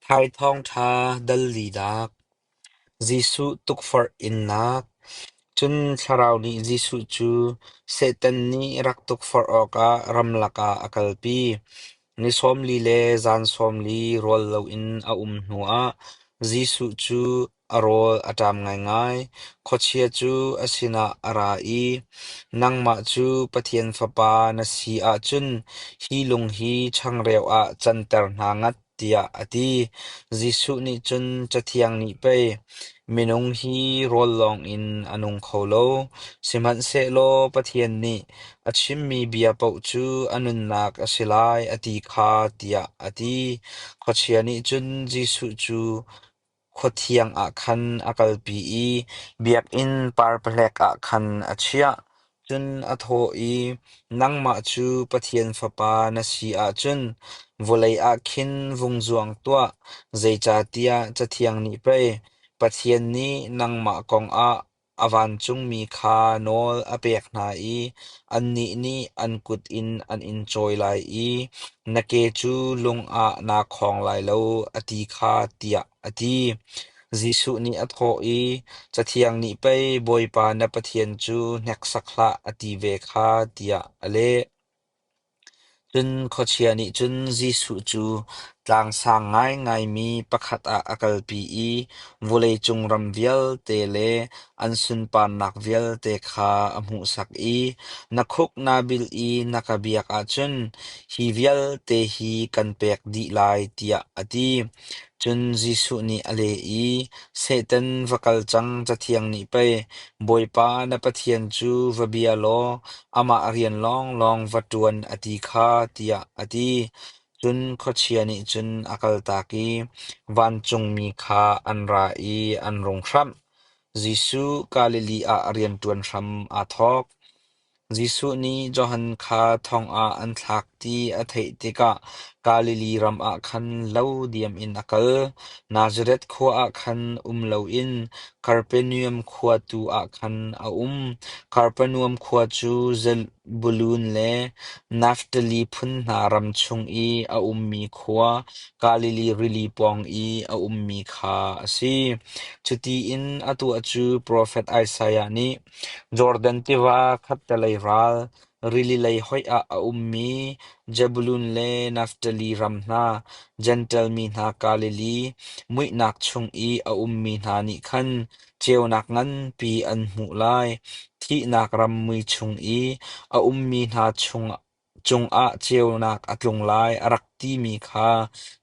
Thai Thawngṭha dal linak, Jesuh tukforh innak. Cun Thlarau nih Jesuh cu Satan nih rak tukforh awkah ramlak ah a kalpi. Ni sawm li le zan sawm li rual loin a um hnuah Jesuh cu A rawl a ṭam ngaingai. Khuachia cu a sinah a ra i, “Nangmah cu Pathian Fapa na si ahcun hi lung hi changreu ah canter hna ngat,” tiah a ti. Jesuh nih cun Cathiang nih pei, “Minung hi rawl lawngin a nung kho lo, sihmanhsehlaw Pathian nih a chimmi bia paoh cu a nunnak a si lai, a ti kha,” tiah a ti. Khuachia nih cun Jesuh cu, Khuathiang ah khan a kalpi i biakinn parpahlek ah khan a chiah, cun a thawh i, “Nangmah cu Pathian Fapa na si ahcun vawlei ah khin vung zuang tuah, zeicahtiah Cathiang nih pei, ‘Pathian nih nangmah kongah A vancungmi kha nawl a pek hna i annih nih an kut in an in cawi lai i na ke cu lung ah naa khawng lai lo, a ti kha tiah a ti. Jesuh nih a thawh i, Cathiang nih pei Bawipa na Pathian cu hneksak hlah, a ti ve kha, tiah a leh. Cun khuachia nih cun Jesuh cu tlangsang ngaingaimi pakhat ah a kalpi i vawleicung ram vialte le an sunparnak vialte kha a hmuhsak i, “Na khuk naa bilh i na ka biak ahcun hi vialte hi kan pek dih lai,” tiah a ti. Cun Jesuh nih a leh i, Satan va kal cang, Cathiang nih pei, Bawipa na Pathian cu va bia law amah rian lawnglawng va ṭuan a ti kha, tiah a ti. Cun khuachia nih cun a kaltak i vancungmi kha an ra i an rung hramh. Jesuh Galilee ah rianṭuan hram aa thawk. Jesuh nih Johan kha thongah an thlak ti a theih tikah Galilee ram ah khan lo diam in a kal. Nazareth khua ah khan um loin Kapernaum khua tu ah khan a um. Kapernaum khua cu Zebulun le Naftali phun hna ram chung i a ummi khua, Galilee rili pawng i a ummi kha a si. Cuti in atu cu profet Isaiah nih, Jordan tiva khattelei ral rili lei hoih ah a ummi Zebulun le Naftali ram hna, Jentail mi hna Galilee muihnak chung i a ummi hna nih khan ceunak nganpi an hmuh lai. Thihnak ram mui chung i a ummi hna chung cungah ceunak a tlung lai a rak timi kha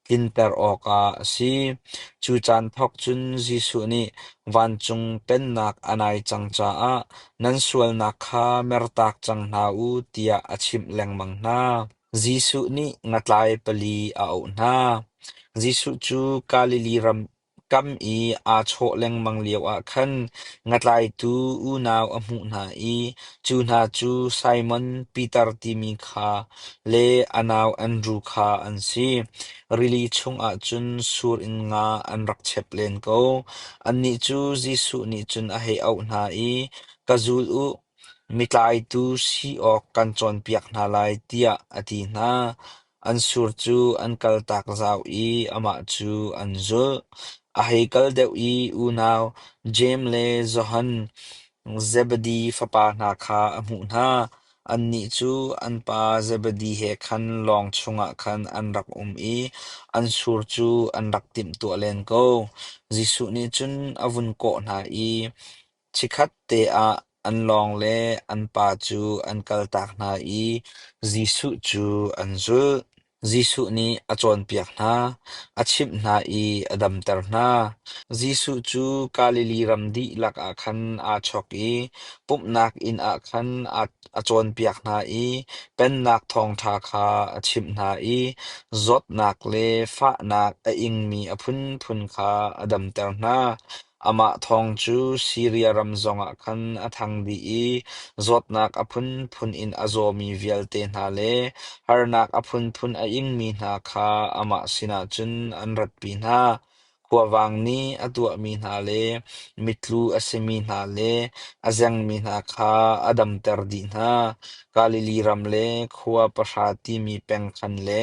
tlinter awkah a si. Cu caan thawk cun Jesuh nih vancung Pennak a nai cang caah nan sualnak kha mertak cang hna u tiah a chimh lengmang hna. Jesuh nih ngatlai pali a auh hna. Jesuh cu Galilee ram Kam i aa chawh lengmang lioah khan ngatlaitu unau a hmuh hna i cu hna cu Simon Piter timi kha le a nau Andru kha an si. Rili chungah cun sur in nga an rak chep len ko. Annih cu Jesuh nih cun a hei auh hna i, “Ka zul u, mi tlaitu si awk kan cawnpiak hna lai,” tiah a ti hna. An sur cu an kaltak zau i amah cu an zulh. A hei kal deuh i unau Jeim le Johan Zebedi fapa hna kha a hmuh hna. Annih cu an pa Zebedi he khan lawng chungah khan an rak um i an sur cu an rak timhtuah len ko. Jesuh nih cun a vun kawh hna i, Chikhat te ah an lawng le an pa cu an kaltak hna i Jesuh cu an zulh. Jesuh nih a cawnpiak hna, a chimh hna i a damter hna. Jesuh cu Galilee ram dihlak ah khan aa chawk i pumhnak inn ah khan a cawnpiak hna i Pennak Thawngṭha kha a chimh hna i zawtnak le fahnak a ingmi a phunphun kha a damter hna. Amah thawng cu Siria ram zongah khan a thang dih i zawtnak a phunphun in a zawmi vialte hna le harnak a phunphun a ingmi hna kha amah sinah cun an ratpi hna. Khuavang nih a tuahmi hna le mitlu a simi hna le a zengmi hna kha a damter dih hna. Galilee ram le khua pahra timi peng khan le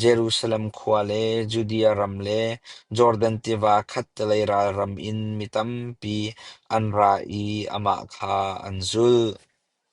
Jerusalem khua le Judea ram le Jordan tiva khattelei ral ram in mi tampi an ra i amah kha an zulh.